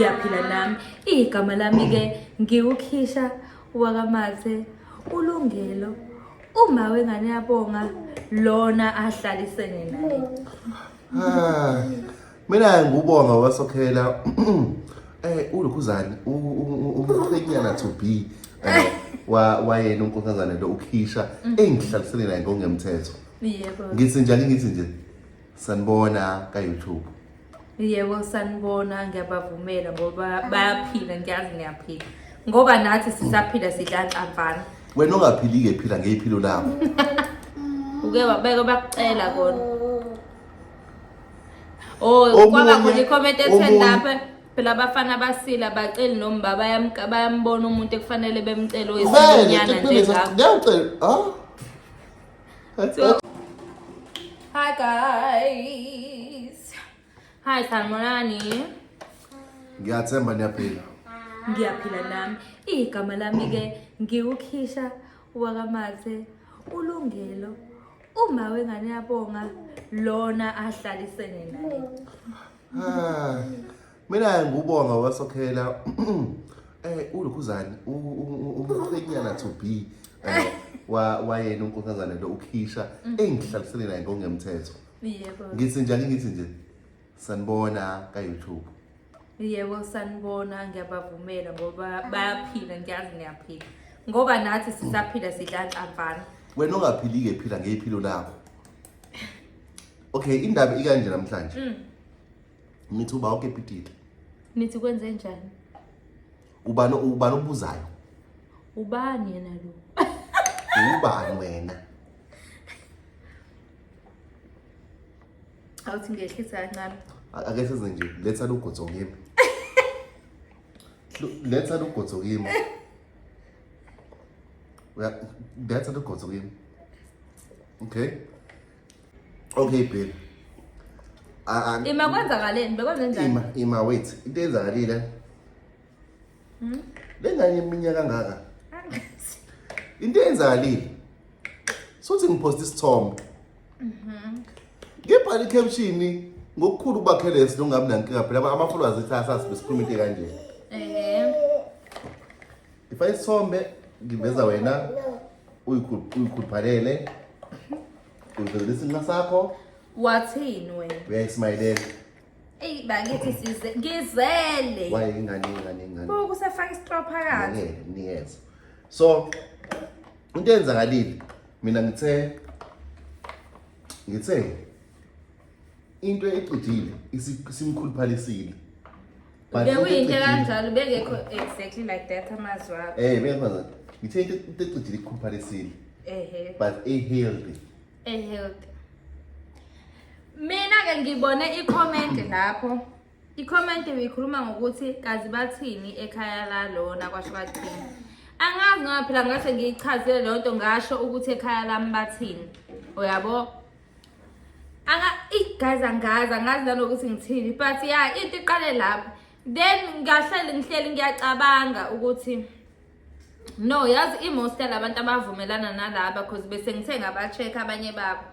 ngiyaphila nami igama lami-ke ngiwukhisha wakamathe ulungelo uma wengane yabonga lona ahlalisene naye Ah, mina ngubonga wasokhela eh ulokhuzani umkhwenyana to be eh, wa wayena unkosazana lo ukhisha engihlalisele naye ngongemthetho yebo ngithi njalo ngithi nje sanibona ka YouTube yebo sanibona ngiyabavumela ngoba bayaphila ngiyazi niyaphila ngoba nathi sisaphila sidla nxamvana wena ongaphili-ke phila ngeyiphilo lakho uke wabeke bakucela kona oh Omunye- kwaba khona ikhomenti ethe omunye- lapha phela abafana abasile abaceli noma uba bayamka- bayambona umuntu ekufanele bemcele Vele, oyisilonyana nje ngeke ngakho ngeke ucele- ah? Hi guys. Hi Salmonani. Ngiyathemba niyaphila. Ngiyaphila nami. Igama lami ke ngiwukhisha wakamathe ulungelo uma wengane yabonga lona ahlalisene naye. Ah. mina ngubonga wasokhela eh ulokhuzani umqhenyana to be eh, wa wayena unkosazana lo ukhisha mm. engihlalisele naye ngongemthetho yebo ngithi njalo ngithi nje sanibona ka YouTube yebo sanibona ngiyabavumela ngoba bayaphila ngiyazi ngiyaphila ngoba nathi sisaphila sidla nhlampana wena ongaphilike phila ngeyiphilo lakho okay indaba ikanje namhlanje mm. Nithi uba oke pititi. Nithi kwenze njani? Ubani ubani obuzayo? Ubani yena lo? Ubani wena? Awuthi ngehlisa kancane. Ake size nje letha lugotso kimi. Letha lugotso kimi. Letha lugotso kimi. Okay. okay babe Ah, ah, ima kwenzakaleni bekwenze njani ima ima wait into eyenzakalile Hmm? le ngane iminyaka kangaka into eyenzakalile sothi ngiphosta isithombe ngibhala i-caption ngokukhulu ubakhelesi nongabi nankinga phela ama-followers ethi asasi besikhuluma into kanje ehe Ifa isithombe ngiveza wena uyikhuluphalele uyivezela isinqa sakho wathini wena uyayismayilela eyi bakithi size ngizele waye ingane ingane ingane bo kusafaka isitro phakathi niyeza so into eyenzakalile mina ngithe ngithe into ecijile isimkhuluphalisile bekuyinto kanjalo bengekho exactly like that amazwi akho eh beyafaza ngithe into into ecijile ikhuluphalisile ehe but a healthy a healthy mina ke ngibone i-comment lapho i-comment beyikhuluma ngokuthi kazi bathini ekhaya lalona kwasho kathini angazi ngoba phela ngase ngiyichazile leyo nto ngasho ukuthi ekhaya lami bathini uyabo aka guys angazi angazi nanokuthi ngithini but ya into iqale lapho then ngiyahleli ngihleli ngiyacabanga ukuthi no yazi imosta labantu abavumelana nalaba cause bese ngithe ngaba-check abanye babo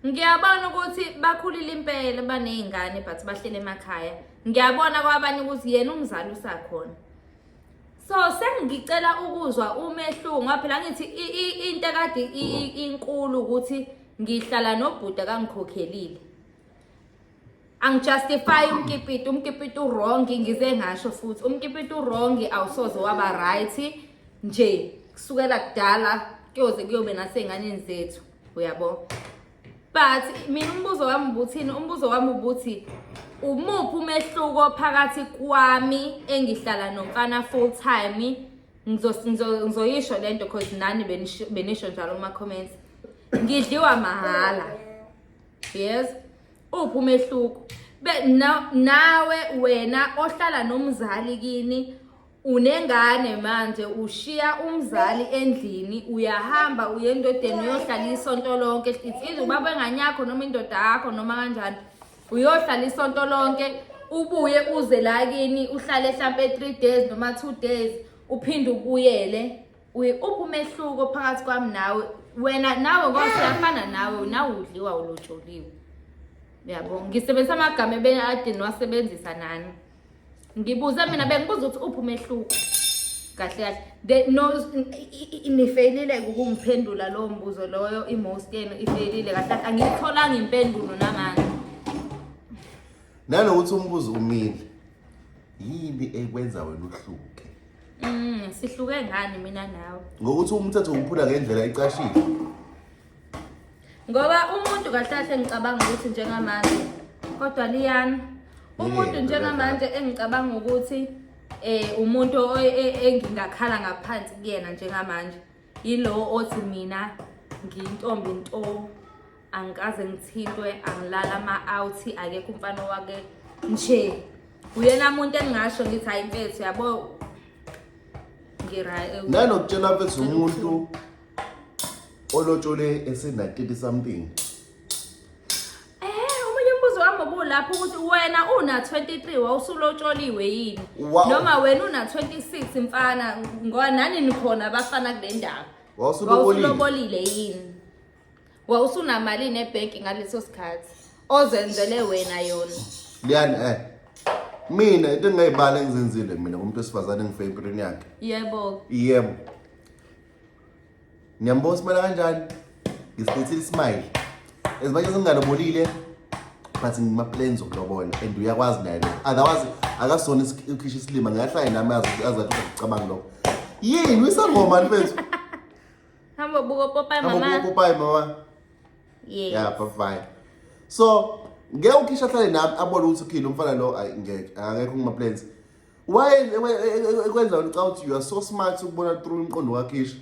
ngiyabona ukuthi bakhulile impela baney'ngane but bahlele emakhaya ngiyabona kwabanye ukuthi yena umzali usakhona so sengicela ukuzwa umehluko ngoba phela ngithi into ekade inkulu ukuthi ngihlala nobhuda kangikhokhelile angijustify umkipiti umkipiti uwrong ngize ngasho futhi umkipiti uwrong awusoze waba right nje kusukela kudala kuyoze kuyobe naseynganeni zethu uyabo but mina umbuzo wami ubuthini umbuzo wami ubuthi umuphi umehluko phakathi kwami engihlala nomfana full time ngizoyisho le nto because nani benisho njalo kuma-comments ngidliwa mahhala yes uphi umehluko nawe wena ohlala nomzali kini unengane manje ushiya umzali endlini uyahamba uye endodeni uyohlala isonto lonke it's either ubaba engane yakho noma indoda yakho noma kanjani uyohlala isonto lonke ubuye uze la kini uhlale hlampe 3 days noma 2 days uphinde ubuyele uphumehluko phakathi kwami nawe wena nawe ngoba siyafana nawe nawe udliwa ulotsholiwe uyabo ngisebenzisa amagama ebeni ade niwasebenzisa nani ngibuze mina bengibuza ukuthi uphi umehluko kahle kahle the no nifeyilile ukumphendula lowo mbuzo loyo i-most yenu ifeyilile kahle kahle angiyitholanga impendulo namanje nanokuthi umbuzo umile yini ekwenza wena uhluke mm sihluke ngani mina nawe ngokuthi umthetho uwuphula ngendlela icashile ngoba umuntu kahle kahle ngicabanga ukuthi njengamanje kodwa liyana umuntu Yebo, njengamanje engicabanga ukuthi eh umuntu o- e- engingakhala ngaphansi kuyena njengamanje yilowo othi mina ngiyintombi nto angikaze ngithintwe angilala ama-out akekho umfana wake nje uyena muntu engingasho ngithi hayi mfethu yabo ngira- nalokutshela mfethu umuntu olotshole esenatete something eh omunye umbuzo wami obulapho ukuthi wena una 23 wawusulotsholiwe yini noma wena una 26 mfana ngoba nani nikhona abafana kule ndawo wawusulobolile yini wawusunamali nebhenki ngaleso sikhathi ozenzele wena yona liyani eh mina into engingayibala engizenzile mina kumuntu wesifazane engifeyempilweni yakhe yebo yebo Ngiyambona uSmile kanjani? Ngisilethile iSmile. As much as ngingalobolile but ngima-plans okulobola and uyakwazi naye lo. Otherwise akasona is- ukhisha isilima ngingahlale nami azi- azi athi ucabanga lokho. Yini uyisangoma mfethu? Hamba buka popayi Hamba mama. kupopayi mama. Yes. Yeah, bye bye. So, ngeke ukhisha ahlale nami abone ukuthi ukhile umfana lo ayi ngeke akekho kuma plans. why ekwenza ngicabanga ukuthi you are so smart ukubona through umqondo wakhe isho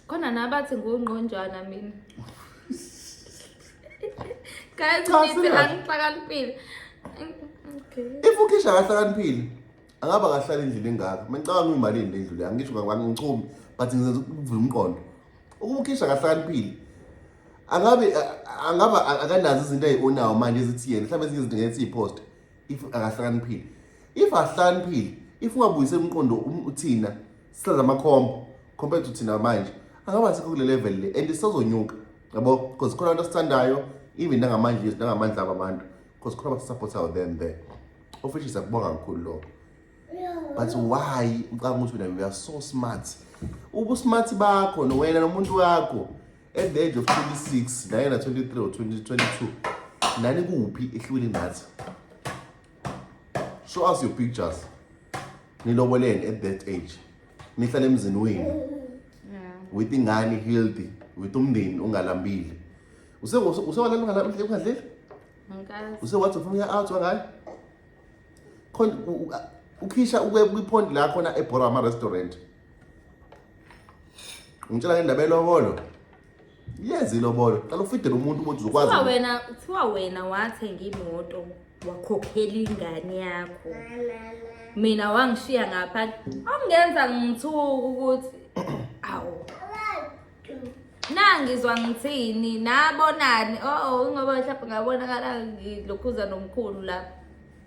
khona nabathi ngungqonjwana mina guys Cha, ngithi serious. angihlakaniphile okay if ukhisha akahlakaniphile angaba kahlala endlini engaka mengicabanga uyimalini le ndlu le angisho ngakubani ngichumi but ngizenza ukuvula umqondo ukuba ukhisha akahlakaniphile angabe a- angaba a- akanazo izinto ayi-onawo manje ezithi yena mhlawumbe ezinye izinto ngeke siyiposte if akahlakaniphile if ahlakaniphile if ungabuyise umqondo um, uthina sihlala amakhombo compared to thina manje angaba sikho kule level le and isazonyuka yabo because khona abantu asithandayo even nangamanje yethu nangamandla abo abantu because khona abasisupportayo them there of which is akubonga kakhulu lokho but why ucanga ukuthi wena you are so smart ubusmart bakho nowena nomuntu wakho at the age of 26 naye na 23 or 2022 nani kuphi ehlukile nathi show us your pictures niloboleni at that age nihlale emzini wenu with ingane healthy with umndeni ungalambile usewalala ungadleli usewathi ufuna uya out wangayo khona ukhisha ukwe kwiphond la khona ebhora ama-restaurant Ngitshela ngendaba elobolo. Yenza ilobolo. Qala ufidele umuntu ukuthi uzokwazi. Kuthiwa wena, kuthiwa wena wathenga imoto wakhokhela ingane yakho. Mina wangishiya ngapha. Ongenza ngithuka ukuthi awu. Nangizwa ngithini, nabonani. Oh, ngoba mhlawumbe ngabonakala ngilokhuza nomkhulu lapha.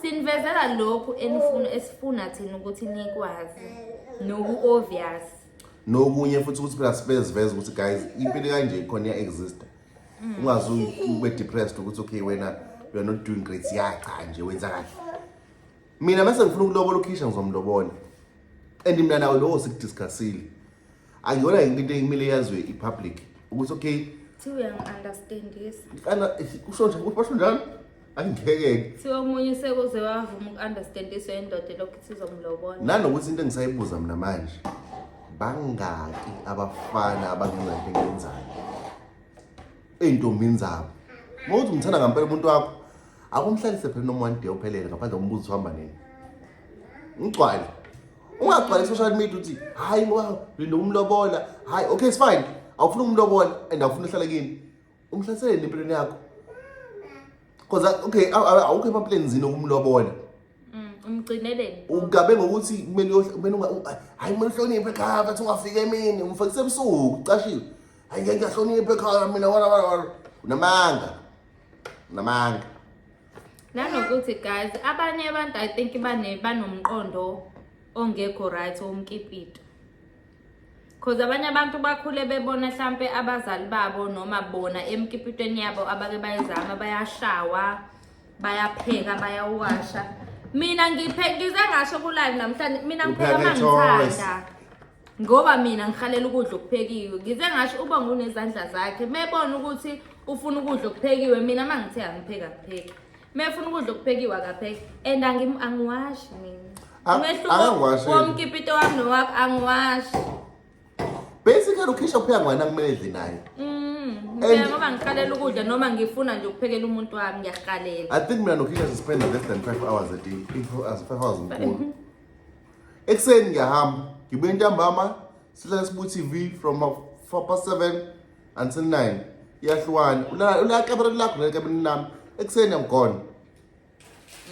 sinivezela lokhu enifuna esifuna thina ukuthi nikwazi noku obvious nokunye futhi ukuthi phela sibeziveza ukuthi guys impilo kanje khona iya exist mm. ungazi ube depressed ukuthi okay wena you are not doing great ya cha nje wenza kahle mina mase ngifuna ukulobola ukhisha ngizomlobola and mina nawe lowo sikudiscussile Angiyona yini into ekumele yazwe ipublic ukuthi okay Thiwa uyangi-understandisa. Ana kusho nje ukuthi basho njalo. Angikeke. Thiwa omunye sekuze wavuma uku-understandiswa indoda lokhu sizomlobona. Nanokuthi into engisayibuza mina manje. Bangaki abafana abangenza into engenzayo? Eyintombini zabo. Mawuthi umthanda ngampela umuntu wakho. Akumhlalise phela noma one day uphelele ngaphandle kombuzo uhamba nini. Ngigcwale. ungagcwali social media uthi hayi ngoba lina umlobola hayi okay it's fine awufuna umlobola and awufuna uhlala kini umhlaseleni empilweni yakho because uh, okay awukho emapleni zini okumlobola mm, umgcineleni ugabe ngokuthi kumele kumele hayi kumele uhloniphe ekhaya bathi ungafika emini umfakise ebusuku ucashiwe hayi ngiyahlonipha ekhaya mina wala wala wala unamanga unamanga nanokuthi guys abanye abantu i think bane banomqondo ongekho right womkipito cause abanye abantu bakhule bebona mhlampe abazali babo noma bona emkipitweni yabo abake bayizama bayashawa bayapheka bayawasha mina ngiphe ngize ngasho kulive namhlanje mina ngipheka mangithanda ngoba mina ngihalela ukudla okuphekiwe ngize ngasho uba ngunezandla zakhe mebona ukuthi ufuna ukudla okuphekiwe mina uma ngithe angipheki akupheki mefuna ukudla okuphekiwe akapheki and angiwashi mina umehluko womkipito wami nowakho angiwashi basically ukhisha kupheka ngwana kumele edle naye mm, ngoba ngikhalela ukudla noma ngifuna nje ukuphekela umuntu wami ngiyahalela i think mina nokhisha sispenda less than five hours a day five hours mkhulu ekuseni ngiyahamba ngibuye ntambama sihlale sibu TV from 4 past 7 until 9 iyahlukana ulala ulala kamereni lakho leli kamereni lami ekuseni I'm gone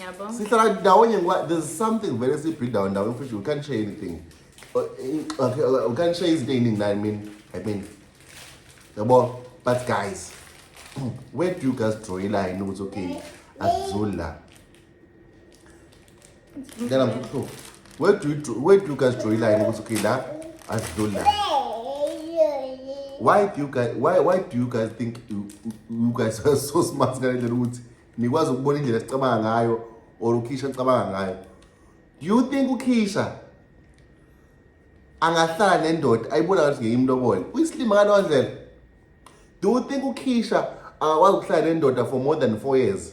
yabo sihlala ndawonye ngoba there's something vele siyibhida ndawo ndawonye futhi you can't share anything Uh, in- okay, uh, you can't share izinto ey'ningi nani mina i mean yabo but guys where do you guys draw a line ukuthi okay akuzuli la Ngicela mkhulu. Where do you draw, where do you guys draw line ukuthi okay la asidlula. Why do you guys why why do you guys think you, you guys are so smart ngale ndlela ukuthi nikwazi ukubona indlela sicabanga ngayo or ukhisha nicabanga ngayo. Do you think ukhisha angahlala nendoda ayibona ngathi ngeke imlobole? Uyisilima ngaleyo ndlela. Do you think ukhisha akakwazi ukuhlala nendoda for more than 4 years?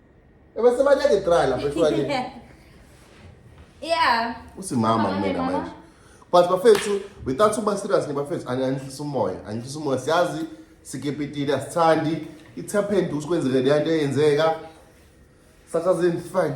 Ebese baleke dry lapho ehlwaleni. Yeah. Usimama kumina manje. But bafethu without uba serious nibafethu angihlisa umoya, angihlisa umoya siyazi sikepitile asithandi it happened usikwenzeke le nto eyenzeka. Sasazini fine.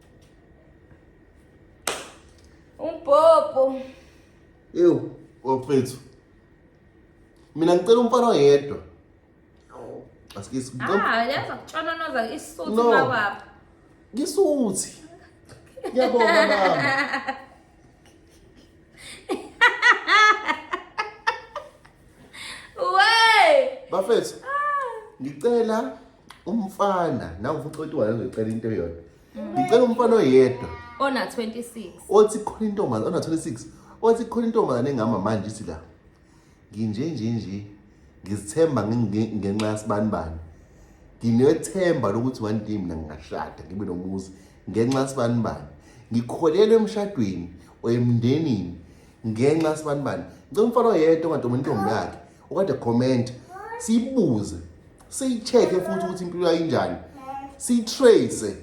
Umbhobho. Ewu, wafethu. Mina ngicela umfana oyedwa. Asikisi. Ah, yaza kutshononoza isuthi no. makwabo. Ngisuthi. Ngiyabonga mama. bafethu ngicela umfana nawe futhi othi wayo ngicela into eyodwa ngicela umfana oyedwa ona 26 othi khona intombazane ona 26 othi khona intombazane engama manje ithi la nginje nje nje ngizithemba ngenxa yasibani bani nginethemba lokuthi one day mina ngingashada ngibe nomuzi ngenxa sibanibani ngikholelwa emshadweni oyemndenini ngenxa sibanibani ngicela umfana oyedwa ongadomi intombi yakhe okade comment siyibuze siyicheck-e futhi ukuthi impilo yayinjani siyitrace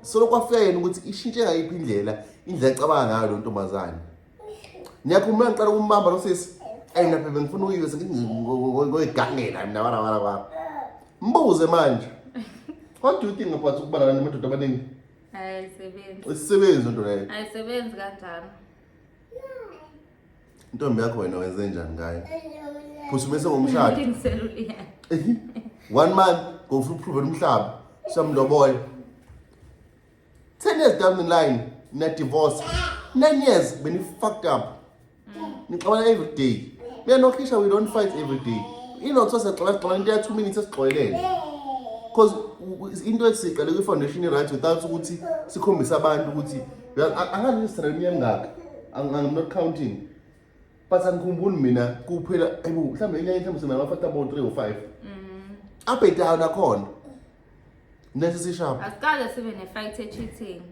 solo kwafika yena ukuthi ishintshe ngayiphi indlela indlela ecabanga ngayo lo ntombazane ngiyakhumula ngicela ukumbamba lo sisi ayi lapha bengifuna uyiwe ngoyigangela mina wala wala wala mbuze manje what do you think about ukubalana namadoda abaningi ayisebenzi isisebenzi into leyo ayisebenzi kanjani intombi yakho wena wenze njani ngayo phusumese ngomshado one month ngofuna uphrovela umhlaba samloboya 10 years down the line na divorce 9 years beni fucked up nixabana every day mina noKhisha we don't fight every day inotho sexola sexola into ya 2 minutes esixolelene because into esiqale kwi foundation right without ukuthi sikhombise abantu ukuthi angazi Israel yangaka I'm not counting but angikhumbuli mina kuphela ayibo mhlawumbe inyanga mhlawumbe sina ngafata about 3 or 5 mm. up and down akhona Nesi sishapha. Asiqale sibe ne fight e cheating.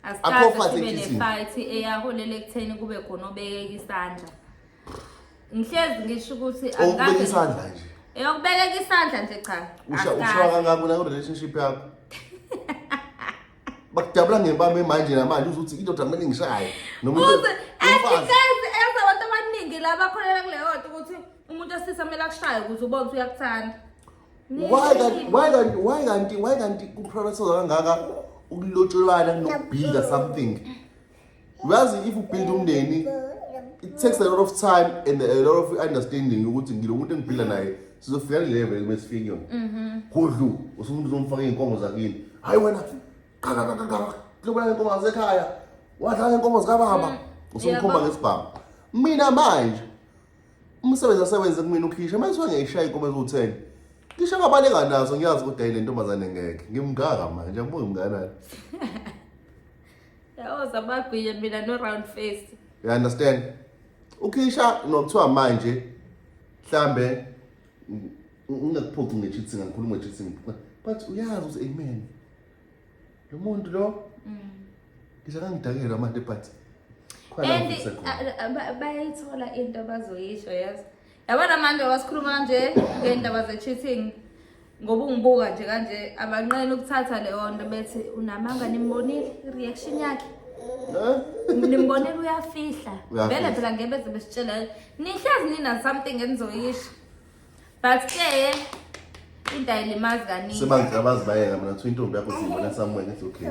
Asiqale sibe ne fight eyaholela ekutheni kube khona obekeka isandla. Ngihlezi ngisho ukuthi angikaze isandla nje. Eyokubekeka isandla nje cha. Usha usha kangaka na relationship yakho. Bakudabula ngempama manje namanje uzothi indoda kumele ngishaye noma uzothi umfazi. Enza abantu abaningi laba khona kuleyo ukuthi umuntu osisa kumele akushaye ukuze ubone ukuthi uyakuthanda. why kanti why kanti why kanti why kanti kuprofessor kangaka ukulotsholana nokubuilda something uyazi if ubuild umndeni it takes a lot of time and a lot of understanding ukuthi ngilo muntu engiphila naye sizofika le level kumele sifike yona mhm. kudlu usumuntu uzomfaka iy'nkomo zakini hhayi wena qakaqaqaqaqlobulala inkomo zasekhaya wadlala inkomo zikababa mm. usumkhomba ngesibhamu mina manje umsebenzi asewenze kumina ukhisha manje kuthiwa ngiyayishaya inkomo eziwu-ten ngisho ngabaleka nazo ngiyazi ukuthi ayile ntombazane ngeke ngimngaka manje angibuke mnganani yawoza bagwiye mina no-round face you understand ukhisha nokuthiwa manje mhlambe ngingakuphoqi nge-cheating angikhulumi nge-cheating but uyazi ukuthi amen Lo muntu lo Mm. ngisho kangidakelwa manje but khona And ngifisa khona. uh, uh, ba- bayayithola into abazoyisho yes. Yabona manje wasikhuluma kanje ngendaba ze cheating. Ngoba ungibuka nje kanje abanqena ukuthatha leyo nto bethi unamanga nimbonile reaction yakhe. Eh? Nimbonile uyafihla. Uyafihla. Vele phela ngeke bese besitshela nihlezi nina something enizoyisho. but ke into ayilimazi kaningi Seba ngicela bazibayeka mina kuthiwa intombi yakho siyibona somewhere ngithi okay.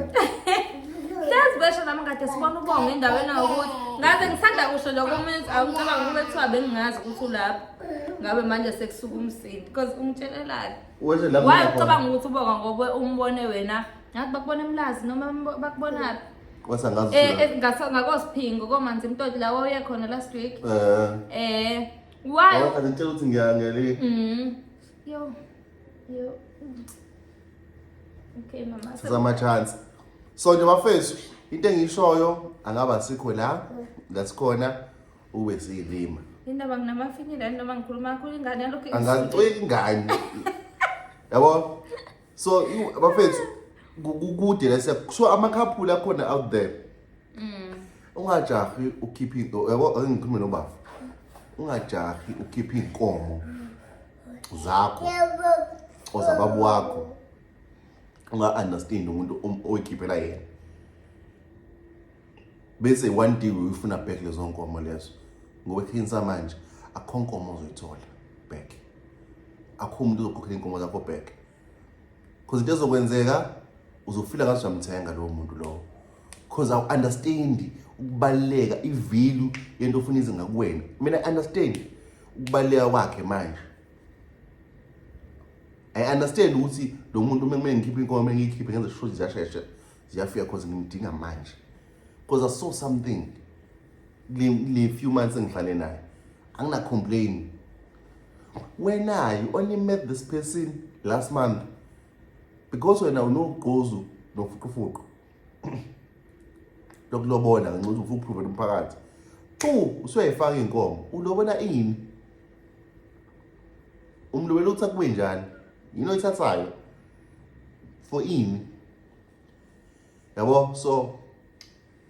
hlezi besho nami kade sibona ubonga endaweni yokuthi ngaze ngisanda kusho lokho umuntu awucabanga ukube kuthiwa bengingazi ukuthi ulapho ngabe manje sekusuka umsindi because ungitshelelani Weshe la waye mina ucabanga ukuthi ubonga ngobe umbone wena ngathi bakubona emlazi noma mbo- bakubonaphi kwasa ngazi. Eh, eh, ngaso- ngakosiphingo komanzi mtoti la wawuye khona last week Eh. eh Why? Ngoba kade ngitshela ukuthi ngiyangele. Mhm. Yo. Yo. Okay mama. Sizama chance. So nje bafethu into engishoyo angaba sikho la la sikhona ube siyilima. Indaba nginamafinyila noma ngikhuluma kakhulu ingane yalokho. Angazixoki ingane. Yabo? so you- bafethu ku- kukude lese so amakhaphula akhona out there Mm. ungajahi ukhiphe into yabo ake ngikhulume nobaba ungajahi ukhiphe iy'nkomo zakho or zababa wakho unga-understand umuntu om- oyikhiphela yena bese one day uyifuna back lezo nkomo lezo ngoba khinsa manje akho nkomo ozoyithola back akho umuntu ozokhokhela inkomo zakho back because into ezokwenzeka uzofila ngathi uyamthenga lowo muntu lowo because awu understand ukubaluleka ivalue yento ofuna ize ngakuwena mina understand ukubaluleka kwakhe manje i understand ukuthi lo muntu uma kumele ngikhiphe inkomo ngiyikhiphe ngenze sure ziyashesha ziyafika cause ngimdinga manje cause i saw something le few months engihlale naye angina complain wena you only met this person last month because wena unogqozu nofuqufuqu lokulobola ngenxa ukuthi ufuna ukuprove umphakathi xu usuyayifaka inkomo ulobola ini umlobela ukuthi akube njani yini oyithathayo for ini yabo so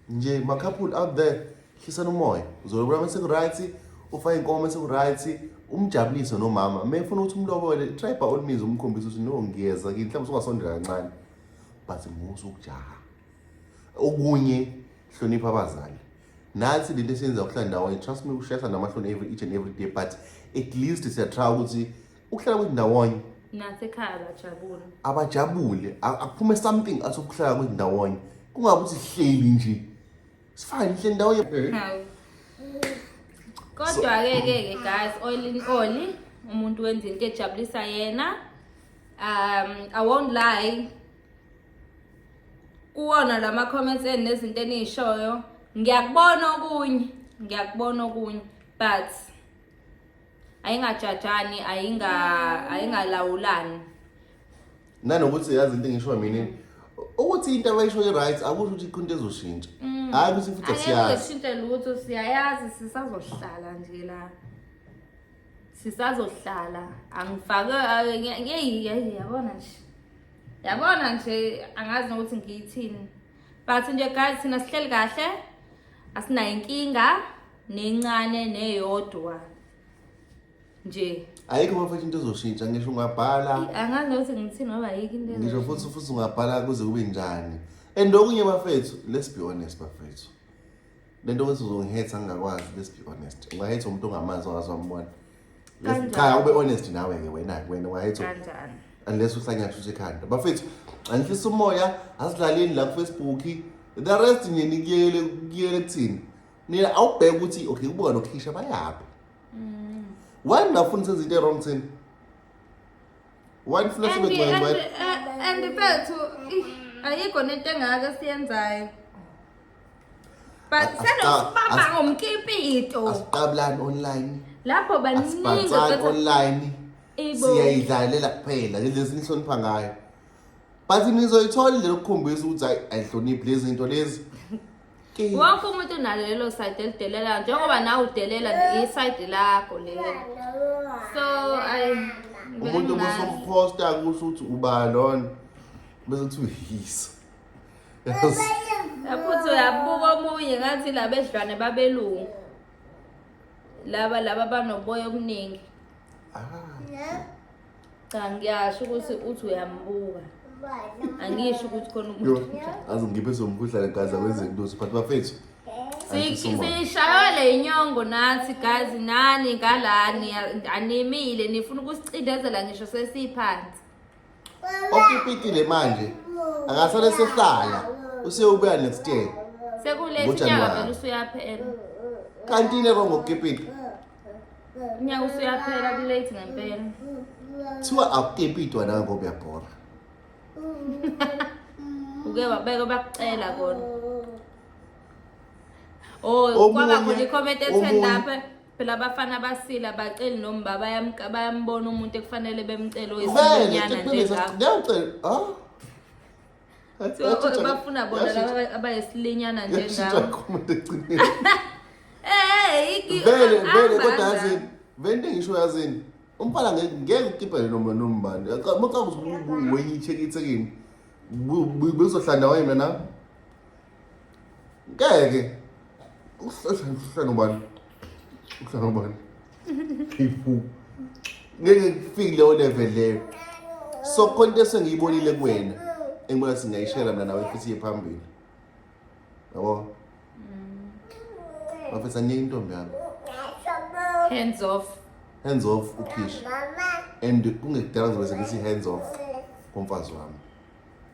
nje ma-couple out there hlisani umoya uzolobula uma seku-right ufake inkomo uma seku-right umjabulise nomama uma efuna ukuthi umlobole try by all means umkhombisa ukuthi no ngiyeza kini mhlawumbe usungasondela kancane but musa ukujaha okunye hlonipha abazali nathi lento esiyenza kuhlala ndawonye trust me kushesa namahloni every each and every day but at least siyatrya ukuthi ukuhlala kwethu ndawonye nathi ekhaya abajabule abajabule a- akuphume something athi ukuhlala kwethu ndawonye kungabe ukuthi sihleli nje sifane nihleli ndawonye Hawu. kodwa-ke ke ke guys all in all umuntu wenza into ejabulisa yena um i won't lie kuwona la ma-comments eni nezinto eniyishoyo ngiyakubona okunye ngiyakubona okunye but ayingajajani ayinga ayingalawulani nanokuthi yazi into engisho mina ukuthi into abayisho i-right akusho ukuthi ikho into ezoshintsha mm. hhayi ukuthi futhi asiyazi ayishintshe lutho siyayazi sisazohlala nje la sisazohlala angifake yeyi yeyi yabona nje yabona nje angazi nokuthi ngiyithini but nje guys thina sihleli kahle asinayo inkinga nencane neyodwa nje ayikho bafethu into ezoshintsha ngisho ungabhala angazi ukuthi ngithini ngoba ayikho into ngisho futhi futhi ungabhala kuze kube njani and okunye bafethu let's be honest bafethu le nto ukuthi uzongihetha ngingakwazi let's be honest ungahetha umuntu ongamazi ongazi wambona cha ube honest nawe-ke wena-ke wena ungahetha unless usanyathusha ekhanda bafethu angihlisa umoya asilaleni la kufacebook the rest nje nikuyele kuyele kuthini nina awubheke ukuthi okay kubuka nokhisha bayaphi mm. why ningafuni senza into e-wrong thina why nifuna sibe ngcwele why and bethu ayikho nento engaka siyenzayo but senosibaba ngomkipito asiqabulani online lapho baningi online siyayidlalela kuphela lezi nihlonipha ngayo but nizoyithola le lokukhombisa ukuthi ayihloniphi lezi zinto lezi wonke umuntu unalo lelo side elidelelayo njengoba nawe udelela isayidi lakho lelo so ayi umuntu ubusomposta kusho ukuthi uba lona bese kuthi uyisa futhi uyabuka omunye ngathi laba edlwane babelungu laba laba banoboya obuningi ah. Cha ngiyasho ukuthi uthi uyambuka. Angisho ukuthi khona umuntu. Azi ngiphe somkhuhlane gaza wenze intusi but bafethu. Sishaywa le nyongo nathi guys nani ngalani animile nifuna ukusicindezela ngisho sesiphansi. Okipitile manje akasale sehlala usewubuya next year. Sekulesi nyanga vele usuyaphela. Kanti ne kongo kipiti. unyaka usuyaphela kulate ngempela kuthiwa akutepi idwana ngoba uyabhora uke wabeka bakucela kona oh Omunye- kwaba khona i-comment ethe omunye- lapha phela abafana abasile abaceli noma uba bayamka- bayambona umuntu ekufanele bemcele oyisinyana njengakho ngiyacela ah So, o- bafuna bona Yashintsha- laba aba- abayisilinyana nje yashintsha ngawo comment ekugcineni. Eh, iki- vele ah, vele kodwa banda. yazini vele into engisho yazini umfana ngeke ngeke ukipele noma nombani maqabuze ubuweyithe kithekini bezohlanda wayena na ngeke uhlala ubani uhlala ubani ifu ngeke kufike leyo level leyo so khona into esengiyibonile kuwena engibona singayishela mina nawe futhi iye phambili yabo bafethu mm. aniyeke intombi yami hands off hands off ukhishi and kungekudala ngizobe sengithi hands off komfazi wami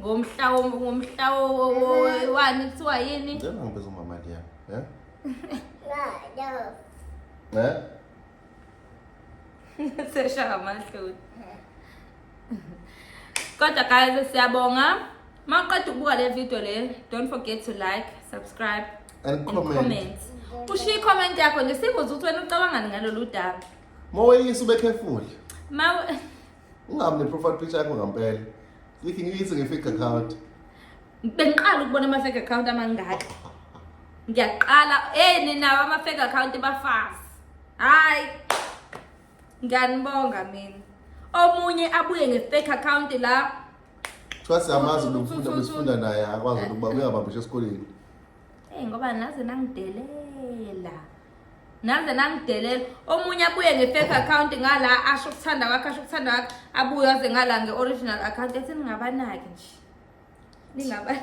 ngomhla ngomhla wani kuthiwa yini ngicela ngibeza umama ndiya eh no eh sesha amahloni kodwa guys siyabonga maqeda ukubuka le video le don't forget to like subscribe and comment, and comment. ushiye icomment yakho nje singozi ukuthi wena ucabangani ngalolu daba moweyisa ube careful ma Ungami ne-profile picture yakho ngampela. Ngikhi ngiyise nge-fake account. Bengiqala ukubona ama-fake account amangaka. Ngiyaqala, hey nina ama-fake account bafazi. Hayi. Ngiyanibonga mina. Omunye abuye nge-fake account la. Kuthiwa siyamazi lo mfundi abesifunda naye akwazi ukuba uyabambisha esikoleni. Hey ngoba naze nangidelela. Naze nangidelela. Omunye abuye nge-fake account ngala asho ukuthanda kwakhe asho ukuthanda kwakhe abuye aze ngala nge-original account ethi ningabanaki nje. Ningaba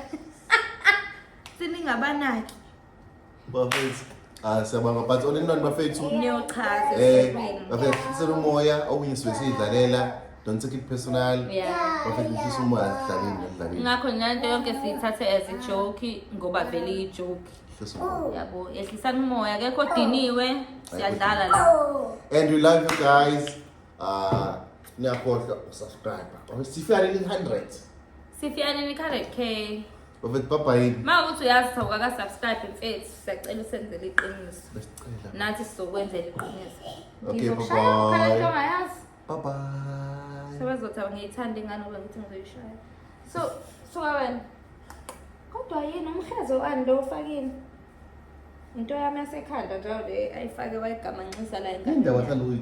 Siningabanaki. Bafethu. Ah siyabonga but onenani bafethu. Niyochaza. Eh bafethu sinomoya okunye sibe sidlalela. Don't take it personal. Yeah. Bafethu ngifisa umoya asidlalile ngidlalile. Ngakho nanto yonke siyithathe as a joke ngoba vele iyi joke. Ngifisa umoya. Yabo, yehlisani umoya akekho odiniwe. Siyadlala la. And we love you guys. Uh, niyakhohlwa usubscribe. Oh, sifika leli 100. Sifika leli 100k. Bafethu baba yini? Uma ukuthi uyazi cha ukaka subscribe mfethu, siyacela usenzele iqiniso. Besicela. Nathi sizokwenzela iqiniso. Okay, bye bye. Bye bye. Sebezothi awungiyithandi ingane ngoba ngithi ngizoyishaya. So suka wena. Kodwa yini umhlezo wani lo ufakini? Into yami yasekhanda njalo le ayifake wayigamanxisa la Indawo engane. yahlala uyi-